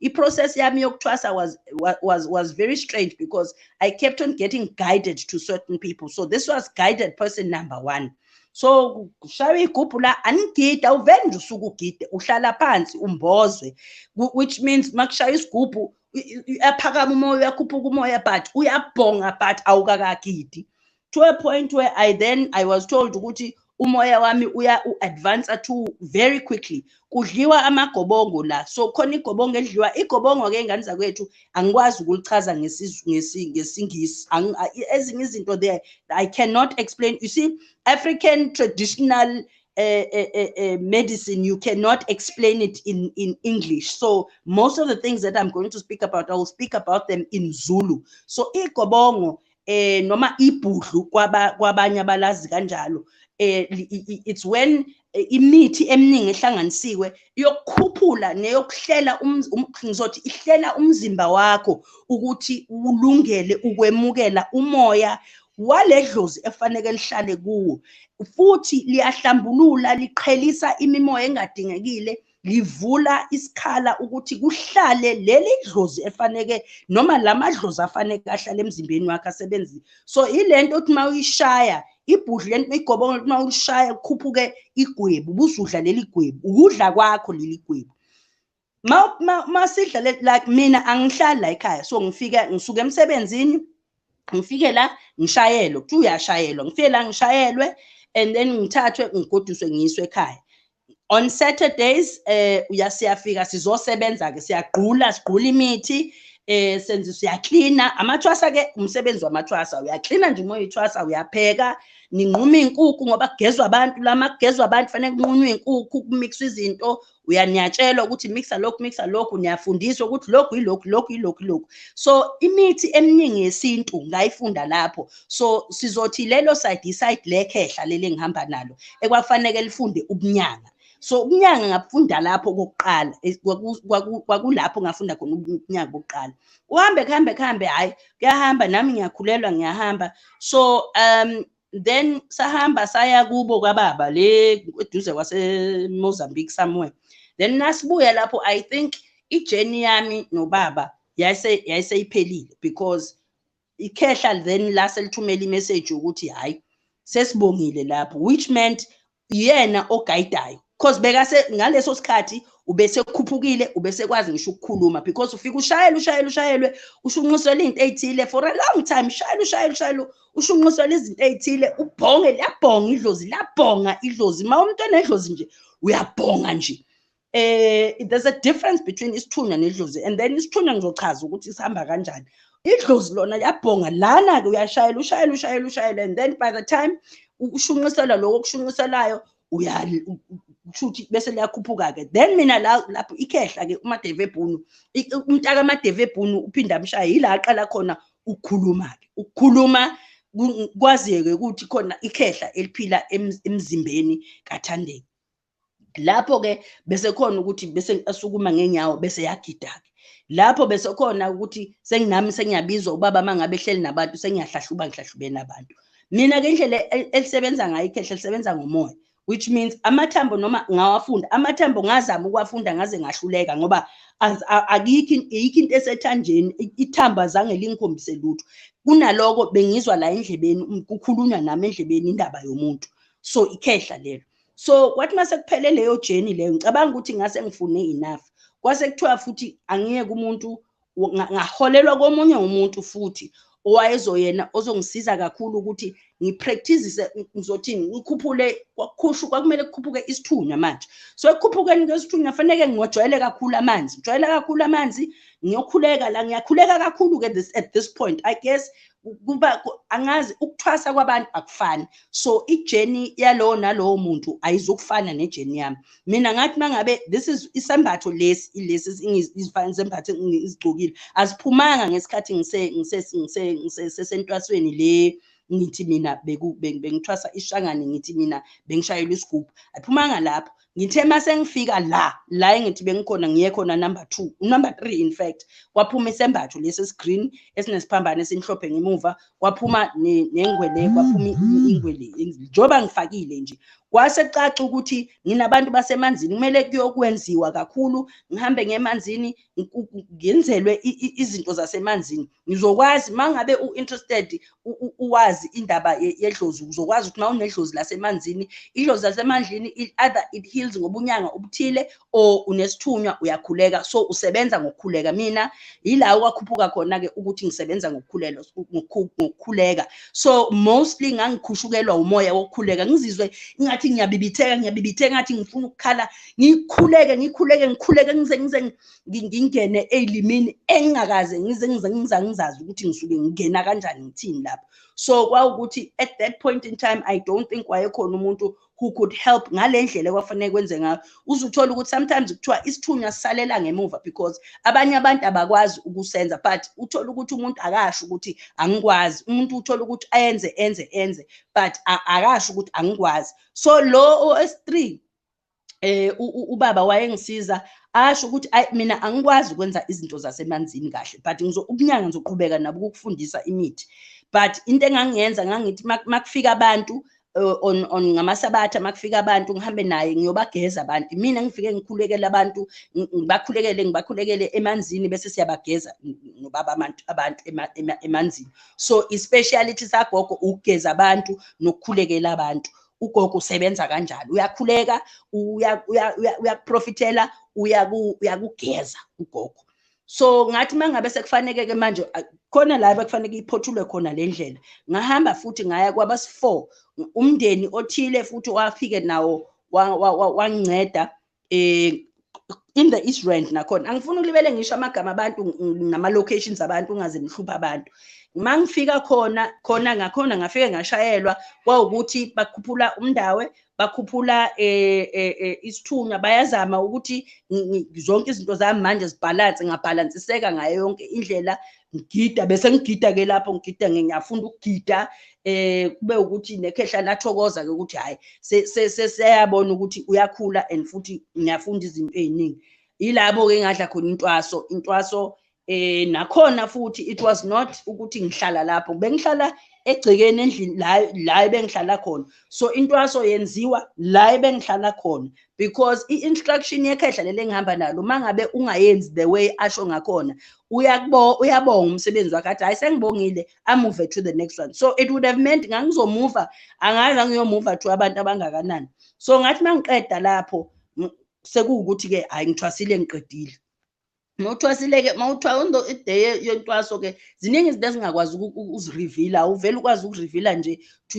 I-process yami yokuthwasa was, was, was very strange because I kept on getting guided to certain people. So this was guided person number one. so kushaywa igubhu la anigida uvele nje usuke ugide uhlala phansi umbozwe which means makushaya isigubhu uyaphakama umoya uyakhuphuka umoya but uyabhonga but awukakagidi to a point where i then i was told ukuthi umoya wami uya u-advancer to very quickly kudliwa amagobongo la so khona igobongo edliwa igobongo ke ingane zakwethu angikwazi ukulichaza ngesingisi ezinye izinto there i cannot explain you see african traditional uh, uh, uh, medicine you cannot explain it in, in english so most of the things that i'm going to speak about i will speak about them in zulu so igobongo eh noma ibhudlu kwaba kwabanye abalazi kanjalo eh it's when eh, imithi eminingi ehlanganisiwe yokukhuphula neyokuhlela um, um, ngizothi ihlela umzimba wakho ukuthi ulungele ukwemukela umoya waledlozi efaneke lihlale kuwo futhi liyahlambulula liqhelisa imimoya engadingekile livula isikhala ukuthi kuhlale leli dlozi efaneke noma la madlozi afaneke ahlale emzimbeni wakhe asebenzi so ile nto othi uma uyishaya ibhudlu le nto uyigobonga uma ulishaya kukhuphuke igwebu ubusudla leli gwebu ukudla kwakho leli gwebu uma sidla like mina angihlali la ekhaya so ngifike ngisuke emsebenzini ngifike la ngishayelwe kuthiwa uyashayelwa ngifike la ngishayelwe and then ngithathwe ngigoduswe ngiyiswe ekhaya on Saturdays eh uyasiyafika sizosebenza ke siyagqula sigqula imithi eh senze siyaklina amathwasa ke umsebenzi wamathwasa uyaklina nje uma uyithwasa uyapheka ninquma inkukhu ngoba kugezwa abantu lama kugezwa abantu fanele kunqunywe inkukhu kumixwa izinto uyaniyatshelwa ukuthi mixa lokhu mixa lokhu niyafundiswa ukuthi lokhu yilokhu lokhu yilokhu lokhu so imithi eminingi yesintu ngayifunda lapho so sizothi lelo side iside lekhehla leli engihamba nalo ekwafaneke lifunde ubunyanga so ubunyanga ngabufunda lapho kokuqala eh, kwakulapho ngafunda khona ubunyanga bokuqala kuhambe kuhambe kuhambe hhayi kuyahamba nami ngiyakhulelwa ngiyahamba so um then sahamba saya kubo kwababa le eduze kwasemozambique somewhere then nasibuya lapho i think ijeni yami nobaba yayiseyiphelile because ikhehla then lase lithumela imessage ukuthi hayi sesibongile lapho which meant yena ogayidayo because bekase ngaleso sikhathi ubese kukhuphukile ubese kwazi ngisho ukukhuluma because ufika ushayela ushayela ushayelwe ushunqisela izinto ezithile for a long time shayela ushayela ushayela ushunqisela izinto ezithile ubhonge liyabhonga idlozi liyabhonga idlozi uma umuntu enedlozi nje uyabhonga nje eh there's a difference between isithunywa nedlozi and then isithunywa ngizochaza ukuthi sihamba kanjani idlozi lona yabhonga lana ke uyashayela ushayela ushayela ushayela and then by the time ukushunqisela lokho okushunqiselayo uyali kushuthi bese liyakhuphuka ke then mina la lapho ikhehla ke umadeve ebhunu umntaka amadeve ebhunu uphinda amshaya yila aqala khona ukukhuluma ke ukukhuluma kwazeke ukuthi khona ikhehla eliphila emzimbeni kathandeni lapho ke bese khona ukuthi bese asukuma ngenyawo bese yagida ke lapho bese khona ukuthi senginami sengiyabizwa ubaba mangabe ehleli nabantu sengiyahlahluba ngihlahlubeni abantu mina ke indlela e-, elisebenza ngayo ikhehle lisebenza ngomoya which means amathambo noma ngawafunda amathambo ngazama ukuwafunda ngaze ngahluleka ngoba akikho iyikho into esethanjeni ithamba zange lingikhombise lutho kunaloko bengizwa la endlebeni kukhulunywa nami endlebeni indaba yomuntu so ikhehla lelo so kwathi uma sekuphele leyo journey leyo ngicabanga ukuthi ngase ngifune enough kwase kuthiwa futhi angiyeke umuntu ngaholelwa komunye umuntu futhi owayezoyena ozongisiza kakhulu ukuthi ngipractice ngizothi ngikhuphule kwakukhushu kwakumele kukhuphuke isithunywa manje so ekukhuphukeni kwesithunywa faneke ngingojwayele kakhulu amanzi ngijwayela kakhulu amanzi ngiyokhuleka la ngiyakhuleka kakhulu-ke this, at this point i guess kuba angazi ukuthwasa kwabantu akufani so ijeni yalowo nalowo muntu ayizukufana nejeni yami mina ngathi mangabe this is isembatho lesi ilesi isembatho ngizigcokile aziphumanga ngesikhathi ngise ngise ngise ngisesentwasweni le ngithi mina bengithwasa ishangane ngithi mina bengishayela isigubhu ayiphumanga lapho ngithe uma sengifika la la engithi bengikhona ngiye khona number two number three in fact kwaphuma isembatho lesi esigreen esinesiphambane esimhlophe ngemuva kwaphuma nengwele kwaphuma ingwele njengoba ngifakile nje kwase caca ukuthi nginabantu basemanzini kumele kuyokwenziwa kakhulu ngihambe ngemanzini ngenzelwe izinto zasemanzini ngizokwazi mangabe u interested uwazi indaba yedlozi uzokwazi ukuthi mawunedlozi lasemanzini idlozi lasemandlini either it heals ngobunyanga obuthile or unesithunywa uyakhuleka so usebenza ngokukhuleka mina yila okwakhuphuka khona ke ukuthi ngisebenza ngokukhulelwa ngokukhuleka so mostly ngangikhushukelwa umoya wokukhuleka ngizizwe ingathi ngiyabibitheka ngiyabibitheka ngathi ngifuna ukukhala ngikhuleke ngikhuleke ngikhuleke ngize ngize ngingene elimini engingakaze ngize ngize ngiza ngizazi ukuthi ngisuke ngingena kanjani ngithini lapho so kwawukuthi at that point in time i don't think wayekhona umuntu who could help ngale ndlela ekwafanele kwenze ngayo uze uthole ukuthi sometimes kuthiwa isithunywa sisalela ngemuva because abanye abantu abakwazi ukusenza but uthole ukuthi umuntu akasho ukuthi angikwazi umuntu uthole ukuthi ayenze enze enze but akasho ukuthi angikwazi so lo o-s three eh ubaba wayengisiza asho ukuthi ay mina angikwazi ukwenza izinto zasemanzini kahle but ngizo ubunyanga ngizoqhubeka nabo ukufundisa imithi but into engangiyenza ngangithi makufika abantu eh, on on ngamasabatha makufika abantu ngihambe naye ngiyobageza abantu mina ngifike ngikhulekele abantu ngibakhulekele ngibakhulekele emanzini bese siyabageza nobaba abantu abantu emanzini so i speciality sagogo ukugeza abantu nokukhulekela abantu ugogo usebenza kanjani uyakhuleka uyakuprofithela uyakugeza ugogo so ngathi mangabe sekufaneke ke manje khona la bekufaneke iphothulwe khona le ndlela ngahamba futhi ngaya kwabasi-four umndeni othile futhi wafike nawo wanginceda eh in the east rand nakhona angifuni ukulibele ngisho amagama abantu nama locations abantu ungaze nihlupha abantu mangifika khona khona ngakhona ngafike ngashayelwa kwawukuthi bakhuphula umndawe bakhuphula eh, eh, eh isithunywa bayazama ukuthi zonke izinto zami manje zibhalanse ngabhalansiseka ngayo yonke indlela ngigida bese ngigida ke lapho ngigida ngiyafunda ukugida eh kube ukuthi nekhehla lathokoza ke ukuthi hayi seseyabona ukuthi uyakhula and futhi ngiyafunda izinto eziningi ilabo ke ngadla khona intwaso intwaso eh nakhona futhi it was not ukuthi ngihlala lapho bengihlala egcekeni endlini la la bengihlala khona so intwaso yenziwa la bengihlala khona because i-instruction yekhehla leli engihamba nalo uma ngabe ungayenzi the way asho ngakhona uyabonga umsebenzi wakhe athi hhayi sengibongile amuve to the next one so it would have meant ngangizomuva angazi angiyomuva to abantu abangakanani so ngathi uma ngiqeda lapho sekuwukuthi-ke hhayi ngithwasile ngiqedile mawuthiwa sileke mawuthiwa onto iday yentwaso ke ziningi izinto ezingakwazi ukuzirivila awuvele ukwazi ukurivila nje to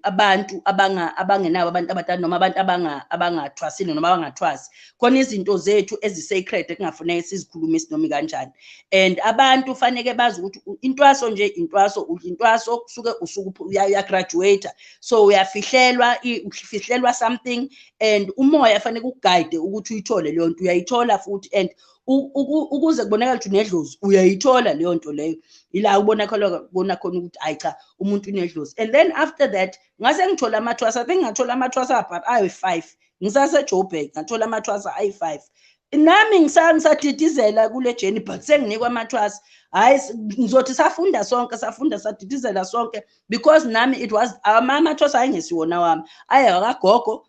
abantu abangenabo abantu abadala noma abantu abangathwasile noma abangathwasi khona izinto zethu ezi-sacred ekungafuneke sizikhulume isinomi kanjani and abantu faneke bazi ukuthi intwaso nje intwaso udla intwaso kusuke usuke uyagraduate so uyafihlelwa ufihlelwa something and umoya fanele kuguide ukuthi uyithole leyo nto uyayithola futhi and ukuze kubonakala ukuthi unedlozi uyayithola leyo nto leyo ila ubona khona bona khona ukuthi ayi cha umuntu unedlozi and then after that ngase ngithola amathwasa i think ngathola amathwasa but ayi-five ngisasejoburg ngathola amathwasa ayi-five nami ngisadidizela kule jeni but senginikwa amathwasa hhayi ngizothi safunda sonke safunda sadidizela sonke because nami it was amama thosa ayengesiwona wami ayekagogo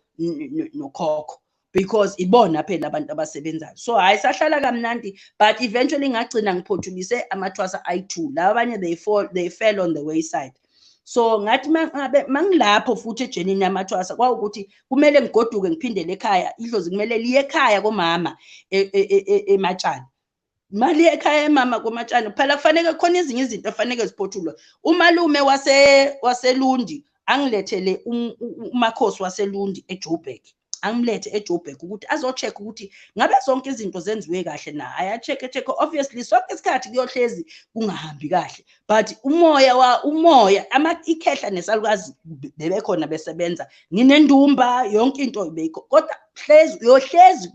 nokhokho because ibona phela abantu abasebenzayo so hayi sahlala kamnandi but eventually ngagcina ngiphothulise amathwasa ayi-two laba abanye they, fall, they fell on the wayside so ngathi mangilapho futhi ejenini yamathwasa kwawukuthi kumele ngigoduke ngiphindele ekhaya idlozi kumele liye ekhaya komama e, e, e, ematshani mali ekhaya emama komatshani phela kufaneke khona ezinye izinto efaneke ziphothulwe umalume wase waselundi angilethele um, umakhosi waselundi ejoburg angimulethe ejoburg ukuthi azocheck ukuthi ngabe zonke izinto zenziwe kahle na ayacheck-e check obviously sonke isikhathi kuyohlezi kungahambi kahle but umoya wa umoya ikhehla nesalukazi bebekhona besebenza nginendumba yonke into beyikho kodwa hlezi uyohlezi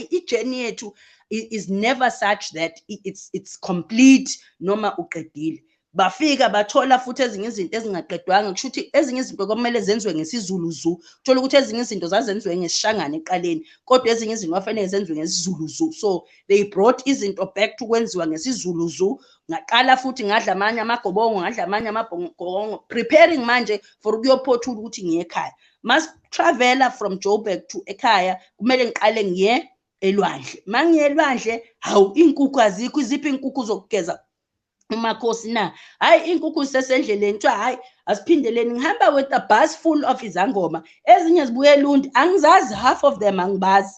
ijeni yethu is never such that it's it's complete noma uqedile bafika bathola futhi ezinye izinto ezingaqedwanga kusho ukuthi ezinye izinto kwamele zenziwe ngesizulu zu thola ukuthi ezinye izinto zazenziwe ngesishangane eqaleni kodwa ezinye izinto kwafanele zenziwe ngesizulu zu so they brought izinto back to kwenziwa ngesizulu zu ngaqala futhi ngadla amanye amagobongo ngadla amanye amabhongo preparing manje for ukuyophothula ukuthi ngiye ekhaya mas travela from joburg to ekhaya kumele ngiqale ngiye elwandle mangiye elwandle hawu iy'nkukhu azikho iziphi iy'nkukhu zokugeza umakhosi na hhayi iy'nkukhu zisesendleleni kuthiwa hhayi asiphindeleni ngihamba with a bus full of izangoma ezinye zibuye elundi angizazi half of them angibazi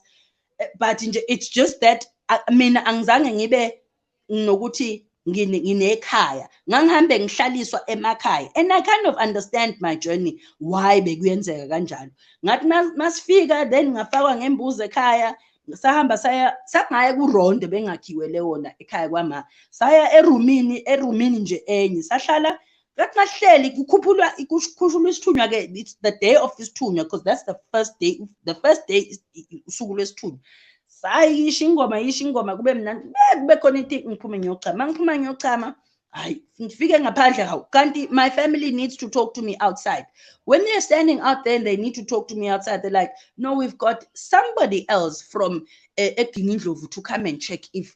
eh, but nje it's just that mina angizange ngibe nokuthi nginekhaya ngangihambe ngihlaliswa emakhaya and i kind of understand my journey why bekuyenzeka kanjalo ngathi masifika then ngafakwa ngembuzi ekhaya sahamba saya sangaya kurondo bengakhiwele wona ekhaya kwama saya erumini erumini nje enye sahlala bekungahleli kukhuphulwa kukhushulwa isithunywa ke it's the day of isithunywa because that's the first day the first day usuku lwesithunywa sayi yisho ingoma yisho ingoma kube mnandi kube khona into ngiphume ngiyochama ngiphuma ngiyochama hayi ngifike ngaphandle hawu kanti my family needs to talk to me outside when they're standing out there and they need to talk to me outside they're like no we've got somebody else from eh, egingindlovu to come and check if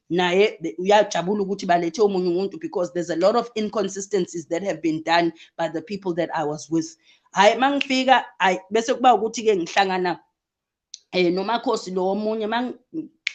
naye uyajabula ukuthi balethe omunye umuntu because there's a lot of inconsistencies that have been done by the people that I was with hayi mangifika hayi bese kuba ukuthi ke ngihlangana eh nomakhosi lo omunye mang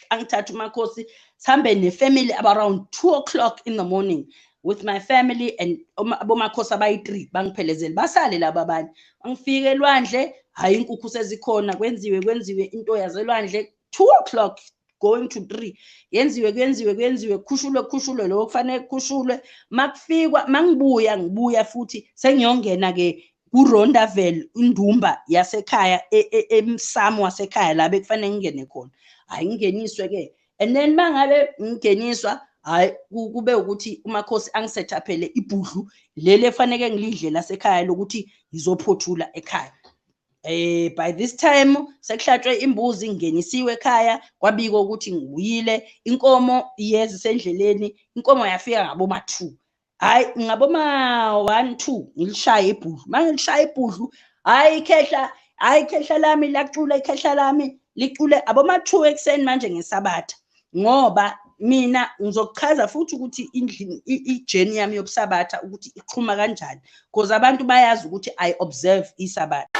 angithatha umakhosi sihambe nefamily around 2 o'clock in the morning with my family and abomakhosi abayi-three bangiphelezele basale laba abanye bangifike elwandle hhayi inkukhu sezikhona kwenziwe kwenziwe into yazelwandle 2 o'clock going to 3 yenziwe kuyenziwe kuyenziwe kukhushulwe kukhushulwe lokho kufanele kukhushulwe makufikwa mangibuya ngibuya futhi sengiyongena ke kuRondavel indumba yasekhaya e, e, emsamo wasekhaya la bekufanele ngingene khona hayi ngingeniswe ke and then mangabe ngingeniswa hayi kube ukuthi umakhosi angisetaphele ibhudlu leli efaneke ngilidle lasekhaya lokuthi ngizophothula ekhaya eh by this time sekuhlatshwe imbuzi ingenisiwe ekhaya kwabikwa ukuthi ngibuyile inkomo iyeza isendleleni inkomo yafika ngabo ma 2 hayi ngabo ma 1 2 ngilishaya ibhudlu manje ngilishaya ibhudlu hayi ikhehla hayi ikhehla lami lacula ikhehla lami licule aboma 2 ekseni manje ngesabatha ngoba mina ngizokuchaza futhi ukuthi ijeni yami yokusabatha ukuthi iqhuma kanjani because abantu bayazi ukuthi i observe isabatha